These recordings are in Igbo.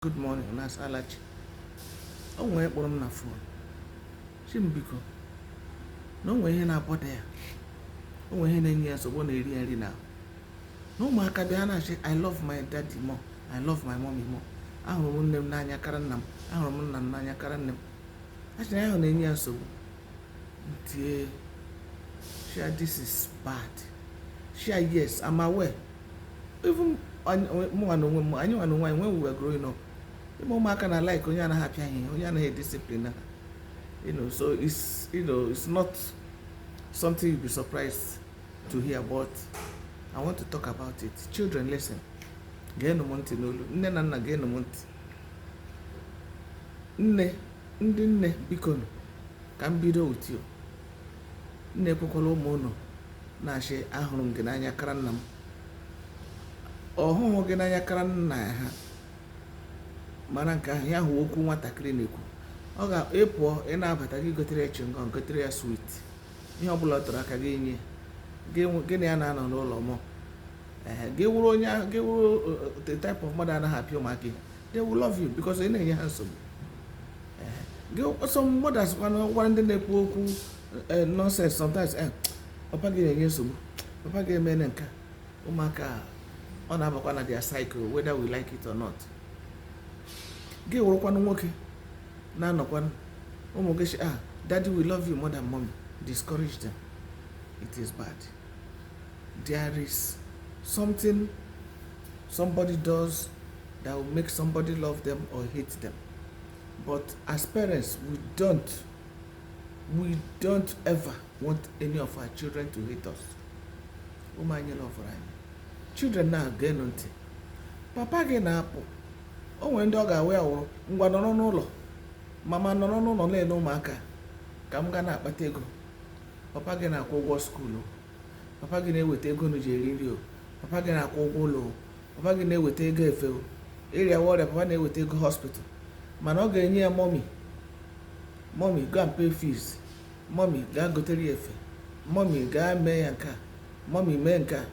good morning unu asala chi o nwee nne kpọrọ m na phone shị m biko na o nwee ihe na-abọda ya o nwee ihe na-enye ya nsogbu na-eri ya nri n'ahụ na ụmụaka bịa na-ashị i love my daddy more i love my mommy more ahụrụ m nne m n'anya kara nna m ahụrụ m nna m n'anya kara nne m shị na ihe ahụ na-enye ya nsogbu m tie shị ya this is bad shị ya yes i'm aware even mụnwa na onwe m anyị nwa na onwe anyị when we were growing up ị ma ụmụaka na like onye anaghị apịa ha ihe onye anaghị discipline ha you know so it's you know it's not something you'll be surprised to hear but I want to talk about it children listen geenụ m ntị n'olu nne na nna geenụ m ntị nne ndị nne bikonu ka m bido with you Unu ekwekwala ụmụ unu na-asị ahụrụ m gị n'anya kara nna m ọ hụhụ gị n'anya kara nna ha mara nke ahụ ihe ahụ wụ okwu nwatakịrị na-ekwu gị pụọ ị na-abata gị gotere ya chingọm gotere ya sweet ihe ọbụla ọ tụrụ aka gị enye gị na ya na-anọ n'ụlọ ma gị wụrụ onye gị wụrụ uh, uh, the type of mmadụ anaghị apịa ụmụaka they will love you because ị na-enye ha nsogbu some mothers kwana gwara ndị na-ekwu okwu eh, nonsense sometimes eh, papa gị na-enye nsogbu papa gị emena nke a ụmụaka ọ na-abakwa na their psyche whether we like it or not gị wụrụkwanụ nwoke na-anọkwanụ ụmụ gị shị ah daddy we love you more than mommy discourage them it is bad there is something somebody does that will make somebody love them or hate them. But as parents, we don't, we don't ever want any of our children to hate us. Ụmụ anyị lọvụrụ anyị. Children na-egenụ ntị. Papa gị na-apụ. O nwere ndị ọ ga-awụ ya wụrụ ngwa nọrọ n'ụlọ. Mama nọrọ n'ụlọ na-ele ụmụaka ka m gaa na-akpata ego. papa gị na-akwụ ụgwọ skuulu papa gị na-eweta ego unu ji eri nri ọ papa gị na-akwụ ụgwọ ụlọ ọ papa gị na-eweta ego efe o ị rịawa ọrịa papa na-eweta ego hospital mana ọ ga-enye ya mọmi mọmi gaa pay fees mọmi gaa gotere ya efe mọmi gaa mee ya nke a mọmi mee nke a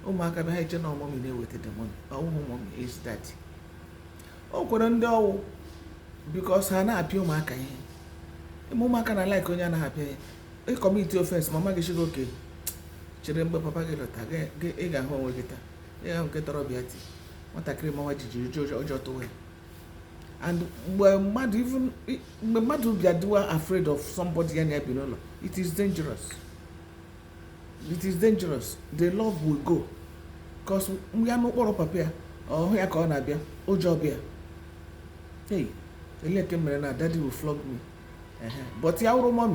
ụmụaka bịa ha eche na mọmi na-eweta the money ọ wụhụ mọmi is daddy o nwekwara ndị ọ wụ because ha na-apịa ụmụaka ihe ị ma ụmụaka na like onye anaghị apịa ya ị commit offence ma mama gị shị okay chere mgbe papa gị lọta gị- gị- ị ga-ahụ onwe gị taa ị ga-ahụ nke tọrọ bịa ti nwatakịrị mawa jijiji ụjọ ụjọ tụwa ya and mgbe mmadụ even i- mgbe mmadụ bịa dịwa afraid of somebody ya na-ebi n'ụlọ it is dangerous it is dangerous the love will go cause ya n'ụkpọrọ papa ya ọ hụ ya ka ọ na-abịa ụjọ abịa hey elee ke m mere na daddy will flog me but ya wụrụ mommy